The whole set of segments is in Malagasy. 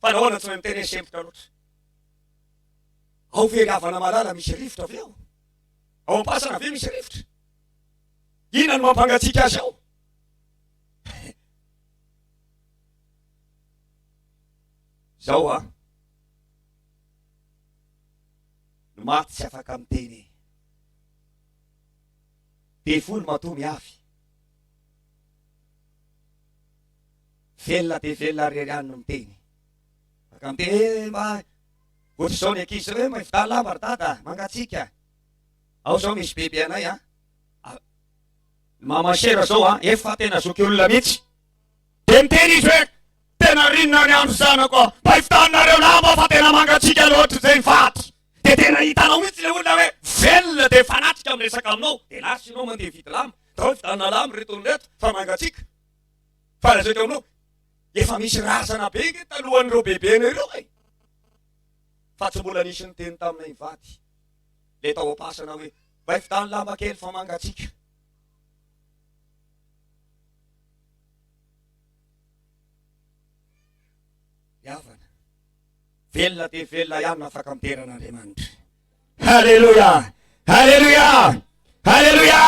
Fa nahoana tsy mahay miteny e sempotra loatra. Ao Fiangavan'Amalala misy rivotra ve ao? Ao Ampasana ve misy rivotra? Inona no mampangatsiaka azy ao? Zao a. Ny maty tsy afaka miteny e. Be folo matoa miafy. Velona dia velona rery any no miteny. Maka miteny hoe mba ohatr'izao ny ankizy izao hoe maividà lamba ry dada a, mangatsiaka. Ao izao misy bebe anay a, maman chère izao a, efa tena zoky olona mihitsy. Dia miteny izy hoe tena rinona ny andro zanako a, maividanareo lamba fa tena mangatsiaka loatra izay ny faty. Dia tena hitanao mihitsy ilay olona hoe velona dia fanatika miresaka aminao. Dia lasa ianao mandeha hividy lamba, tao hividanana lamba ireto olona ireto fa mangatsiaka. Fa lazaiko aminao, efa misy razana be nge talohan'ireo bebenay ireo e. Fa tsy mbola nisy niteny taminay mivady. Le tao am-pasana hoe, mba ifitany lamba kely fa mangatsiaka. Ny havana, velona dia velona ihany afaka midera an'Andriamanitra. Haleloia! Haleloia! Haleloia!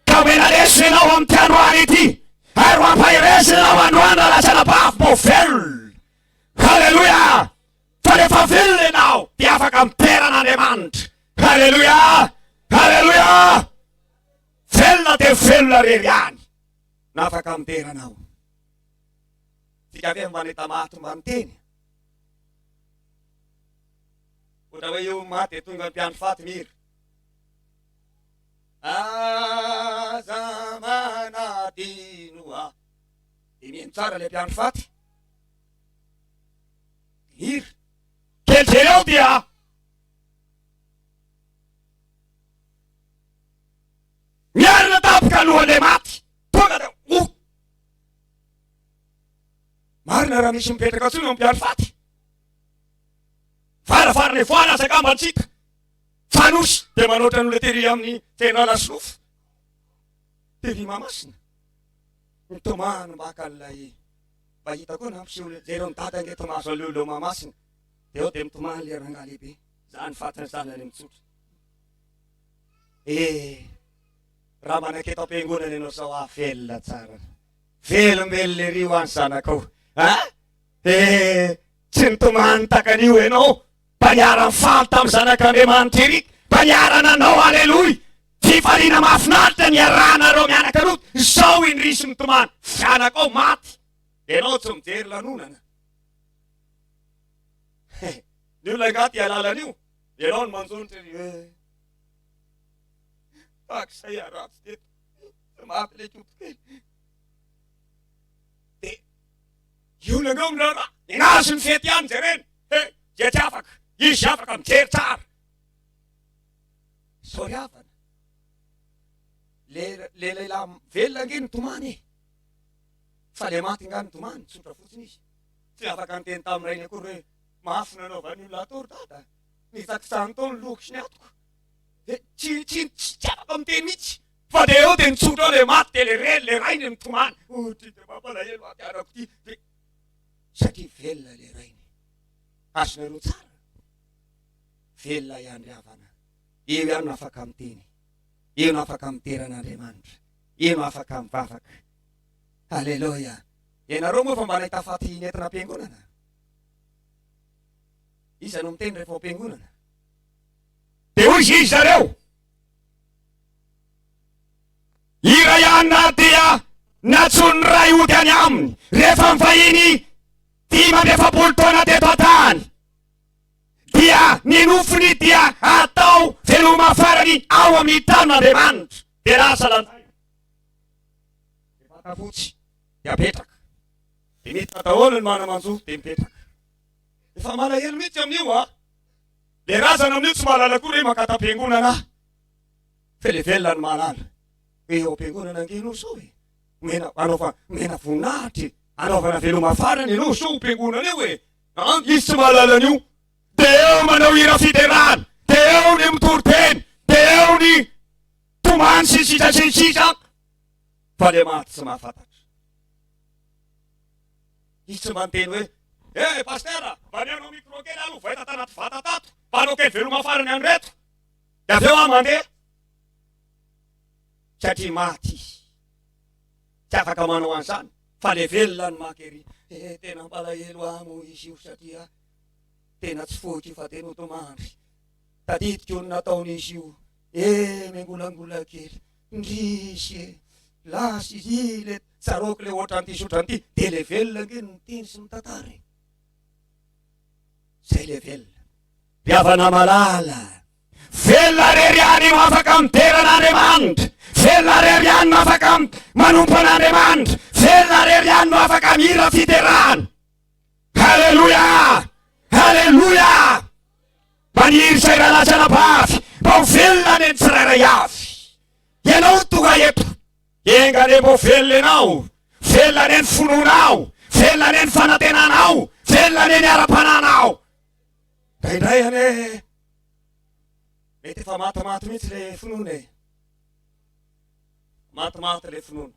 Ka omena lesona ianao amin'ity androany ity ary mampaherezina ianao androany raha lazaina bavy mbo velona. Haleloia! Fa rehefa velona ianao dia afaka miderana Andriamanitra. Haleloia! Haleloia! Velona dia velona rery ihany na afaka midera anao. Dika ve mba nitamaha tomba niteny? Ohatra hoe io maty dia tonga mpiandry faty ny hira. Aza manadino ahy. Dia mihaino tsara ilay mpiandry faty. Ny hira. Kely jery ao dia. Miarina tampoka alohan'ilay maty. Tonga dia oh. Marina raha misy mipetraka tsony ao mpiandry faty. varavarana ivoana aza angamba antsika fa nosy dia manoatra ny olona tery amin'ny tena lasinofo tery mamasina ny tomany mbaka ilay mba hita koa na mpiseho leran'ny dada nge tomazo aleo leo mamasina dia eo dia mitomany le rangah lehibe zany fatiny zanany mitsotra eh raha manaketo am-piangonana ianao sao avelona tsara velombelona ery ho any zanakao a eh Tsy nitomany takan'io ianao, fa niara-nifaly tamin'ny zanak'Andriamanitra Eric, fa niara-nanao Aleloia. Fifaliana mahafinaritra niarahana ireo mianaka Lot. Izao indrisy mitomany, zanakao maty, dia ianao tsy mijery lanonana. Ny olona angaha tia lalan'io, ianao no manjo ny teny. Tahaka izay aratsy teto, maty ilay koto kely. Io olona io aminareo raha nianazy ny fety ihany jereny he dia tsy afaka izy afaka mijery tsara. Sorry havana. Le le lehilahy velona ange nitomany e. Fa le maty nga nitomany, tsotra fotsiny izy. Tsy afaka niteny tamin'ny rainy akory hoe mafy nanaovan'ny olona atao ry dada. Nitsakitsahiny tao ny lohako sy ny atiko. Dia tsy tsy tsy afaka miteny mihitsy. Fa dia eo dia nitsotra ao ilay maty dia ilay reny, ilay rainy nitomany. Oh, ty dia mampalahelo ahy ity anako ity. Dia satria velona ilay rainy. Azonareo tsara? Velona ihany ry havana. Eo ihany no afaka miteny. Eo no afaka midera an'Andriamanitra. Eo no afaka mivavaka. Alléluia. Ianareo moa fa mba nahita faty nentina am-piangonana? Iza no miteny rehefa ao am-piangonana? Dia hoy izy zareo. Iray anà dia nantsoin'ny ray hody any aminy rehefa nivahiny dimy amby efapolo taona teto an-tany. Dia ny nofony dia atao veloma farany ao amin'ny tanin'Andriamanitra. Dia lasa lanjaina. Ny vata fotsy dia apetraka. Dia miditra daholo ny mana-manjo dia mipetraka. Efa malahelo mihitsy amin'io an! Le razana amin'io tsy mahalala koa re makata am-piangonana aho fe le velona no mahalala. Hoe eo am-piangonana ange ianao sao e. Omena, anaova, omena voninahitra e. Anaovana veloma farany ianao sao ho mpiangonana eo e. An, izy tsy mahalala an'io. De eo manao hira fiderana, de eo ny mitory teny, de eo ny tomany sy ny sisa sy ny sisa fa le maty tsy mahafantatra. Izy tsy mba niteny hoe, Eh Pasitera, mba mihaino micro kely aloha vay tato anaty vata tato, mba hanao kely veloma farany an'ireto, dia avy eo aho mandeha. Satria maty izy. Tsy afaka manao an'izany, fa le velona no maka ery. Eh tena ampalahelo ahy moa izy io satria tena tsy foiko io fa dia notomandry. Tadidiko ny nataon'izy io. Eh, miangolangola kely. Ndrisy e! Lasa izy le tsaroako le otran'ity sy otran'ity de le velona nge ny miteny sy mitantara e! Zay le velona. Mpihavana malala. Velona rery ihany no afaka midera an'Andriamanitra, velona rery ihany no afaka manompo an'Andriamanitra, velona rery ihany no afaka mihira fiderana. Haleloia! Haleloia! Maniry izay ralatsana bavy mba ho velona anie ny tsirairay avy. Ianao no tonga eto. Enga anie mba ho velona ianao. Velona anie ny finoanao. Velona anie ny fanantenanao. Velona anie ny ara-panahinao. Indraindray anie mety efa matimaty mihitsy le finoana e. Matimaty le finoana.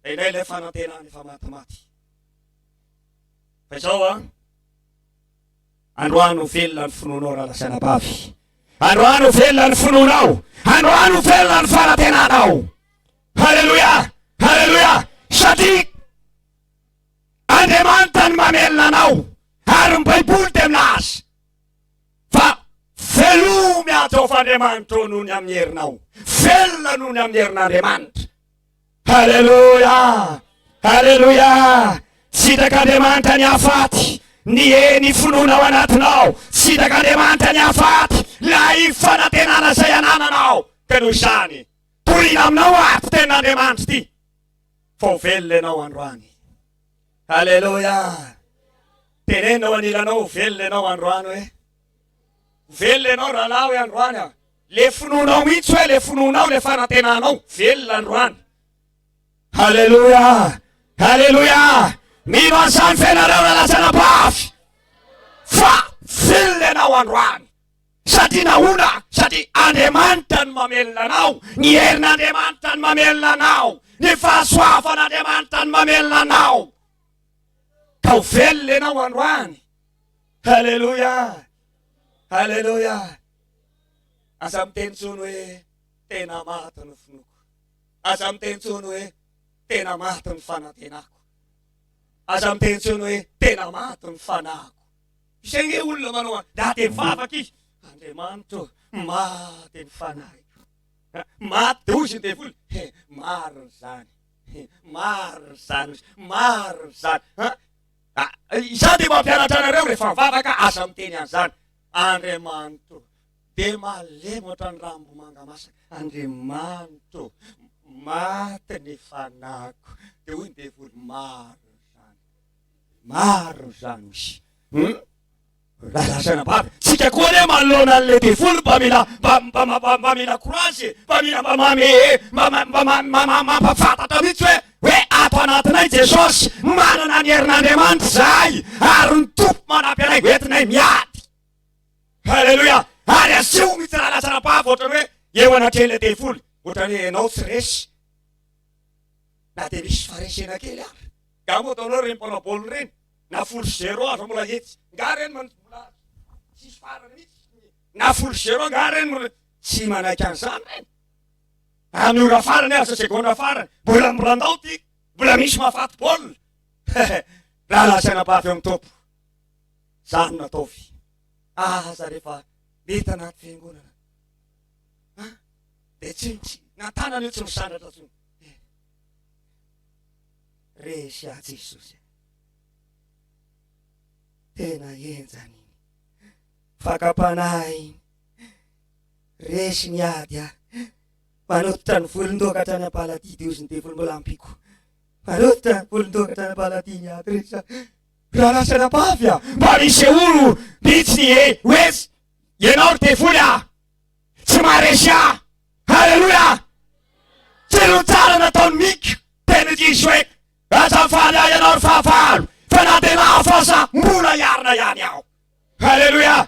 Indraindray le fanantenana efa matimaty. Fa izao an. Androany ho velona ny finoanao rahalahy sy anabavy. Androany ho velona ny finoanao. Androany ho velona ny fanantenanao. Haleloia! Haleloia! Satria Andriamanitra ny mamelona anao ary ny Baiboly dia milaza fa velomy ato ao f'Andriamanitra noho ny amin'ny herinao. Velona noho ny amin'ny herin'Andriamanitra. Haleloia! Haleloia! Tsitaka Andriamanitra ny hafaty, ny e ny finoana ao anatinao. Tsitaka Andriamanitra ny hafaty, lay fanantenana izay anananao. Ka noho izany, torina aminao ato tenin'Andriamanitra ity, fa ho velona ianao androany. Haleloia! Tenenina ao anilanao, ho velona ianao androany hoe. Ho velona ianao rahalahy hoe androany aho. Le finoanao mihitsy hoe le finoanao le fanantenanao velona androany. Haleloia! Haleloia! Mino an'izany ve nareo ra lazana bavy? Fa velona ianao androany. Satria nahoana? Satria Andriamanitra no mamelona anao, ny herin'Andriamanitra no mamelona anao, ny fahasoavan'Andriamanitra no mamelona anao. Ka ho velona ianao androany. Haleloia! Haleloia! Aza miteny intsony hoe tena maty ny finoako. Aza miteny intsony hoe tena maty ny fanantenako. Aza miteny intsony hoe tena maty ny fanahiko. Izay nge olona manao an, dia dia mivavaka izy. Andriamanitro, maty ny fanahiko. Maty dia hoy izy ny devoly, he, marina izany. He, marina izany, marina izany. Izaho dia mampianatra anareo rehefa mivavaka, aza miteny an'izany. Andriamanito dia malemy ohatran'ny rambomanga masaka. Andriamanito maty ny fanahiko. Dia hoy ny devoly, maro izany, maro izany hoy. Hmm? Razana bavy, tsika koa anie manoloana an'ilay devoly mba mila mba mba mba mba mila courage, mba mila mba mame mba mba mba mba mampafantatra mihitsy hoe Hoe ato anatinay Jesosy, manana ny herin'Andriamanitra izahay, ary ny Tompo manampy anay hoentinay miady. Haleloia! Ary asio mihitsy raha lasa anabavy ohatrany hoe eo anatrehan'ilay devoly, ohatrany hoe ianao tsy resy, na dia misy faharesena kely ary. Nga moa ataonao ireny mpanao baolina ireny, na folo sy zéro aza mbola hetsy, nga ireny manitsy mbola tsisy farany mihitsy, na folo sy zéro nga ireny mbola tsy manaiky an'izany ireny. Any ora farany aza, segondra farany, mbola miborandao ty, mbola misy mahafaty baolina. Hehe, raha lazaina mba avy eo amin'ny tompoko. Zah no nataovy. Aza rehefa mety anaty fiangonana. Ha? Dia tsy tsy nantana an'io tsy misandratra tsy. Resy ahy Jesosy. Tena henjany. Fakam-panahy. Resy ny ady a! Manototra ny volon-doaka hatrany am-paladia dia hozy ny devoly mbola ampiko. Manototra ny volon-doaka hatrany am-paladia ny ady resy a! Raha lasa anabavy a! Mba misy oro mitsy ny e! Wes! Ianao ry devoly a! Tsy maharesy ahy! Haleloia! Tsy noho ny tsara nataon'i Miko dia nidiso hoe, Aza mifaly ahy ianao ry fahavalo, fa na dia lafo aza mbola hiarina ihany aho. Haleloia!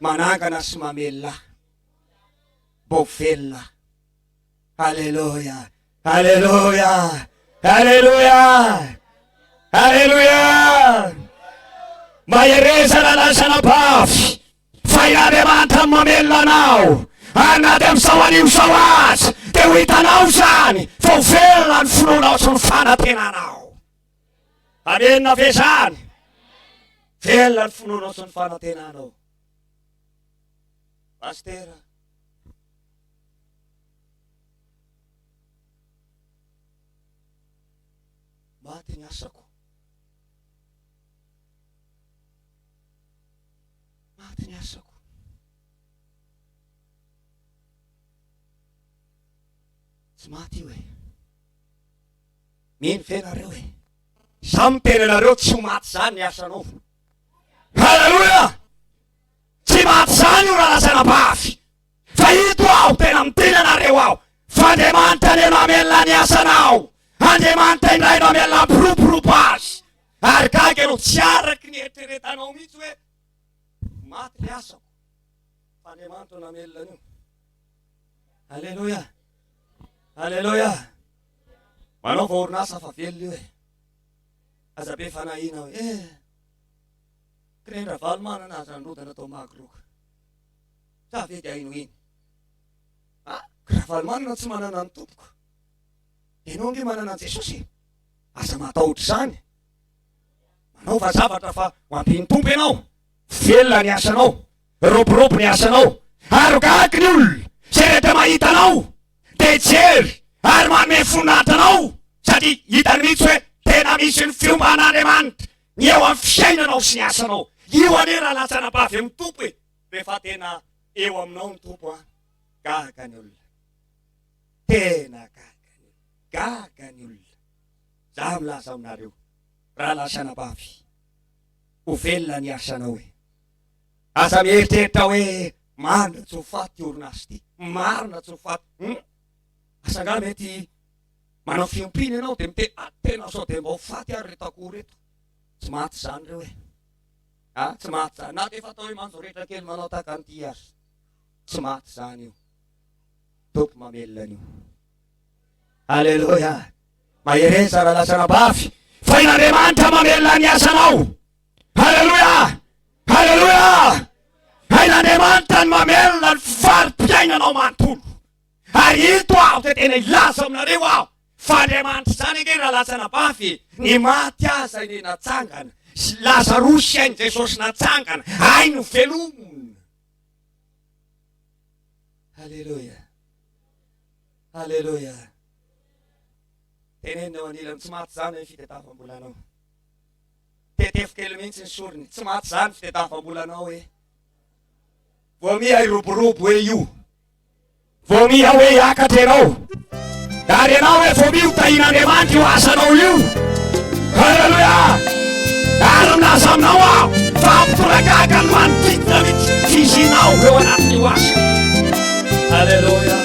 manangana sy mamelona vao velona aleloia aleloia aleloia aleloia mahereza lalaisana bavy fa i andriamanitra mamelona anao ary na dia amin'izao anio izao aza dia ho hitanao izany fa ho velona ny finoanao sy ny fanantenanao Amen na fezany. Velona ny finoanao sy ny fanantenanao. Pastera. Maty ny asako. Maty ny asako. Tsy maty io e. Mino ve nareo e? Za miteny anareo tsy ho maty zany ny asa anaovina. Haleloia! Tsy maty zany io raha lazaina mafy. Fa ito aho tena miteny anareo aho. Fa Andriamanitra anie no hamelona ny asanao. Andriamanitra indray no hamelona ampiroborobo azy. Ary gaga ianao tsy araka ny eritreretanao mihitsy hoe maty ny asako. Fa Andriamanitra no hamelona an'io. Haleloia! Haleloia! Manaova orinasa fa velona io e! Aza be fanahiana hoe eh! Kren-dRavalomanana aza nirodana tao Magro ka! Sa ve dia hinohino? Ah! Ka Ravalomanana tsy manana ny tompoko, ianao ange manana an'i Jesosy e! Aza matahotra izany! Manaova zavatra fa ho ampian'ny Tompo ianao! Velona ny asanao! Roborobo ny asanao ary gaga ny olona izay rehetra mahita anao dia hijery ary manome voninahitra anao satria hitany mihitsy hoe tena misy ny fiomban'Andriamanitra ny eo amin'ny fiainanao sy ny asanao. Io anie raha latsana bavy amin'ny Tompo e! Rehefa tena eo aminao ny Tompo an! Gaga ny olona. Tena gaga ny olona. Gaga ny olona. Za milaza aminareo raha latsana bavy ho velona ny asanao e! Aza mieritreritra hoe marina tsy ho faty ity orinasa ity, marina tsy ho faty, hum! asa angaha mety manao fiompiana ianao dia miteny ah, tena sao dia mba ho faty ary ireto akoho ireto, tsy maty izany ireo e, ah tsy maty izany, na dia efa atao hoe manjoretra kely manao tahaka an'ity aza, tsy maty izany io, tompo mamelona an'io. Aleloia, mahereza raha lasa anabavy, fa i Andriamanitra mamelona ny asanao. Aleloia! Aleloia! Hain'Andriamanitra ny mamelona ny fari-piainanao manontolo. Ary ito aho dia tena hilaza aminareo aho fa Andriamanitra izany ange raha lasa nabavy e, ny maty aza anie natsangana, sy Lazarosy ain'i Jesosy natsangana, hay novelomina. Aleloia! Aleloia! Teneno eo anilany tsy maty izany ny fitetafam-bolanao. Tetefo kely mihitsy ny sorony. Tsy maty zany fitetavam-bolanao ee. Vao miha hiroborobo hoe io. Vao miha hoe hiakatra ianao. Ary ianao hoe vao miha ho tahin'Andriamanitra io asanao io. Haleloia! Ary milaza aminao aho fa ampitoragaga ny manodidina mihitsy fizinao eo anatin'io asa. Haleloia! Haleloia!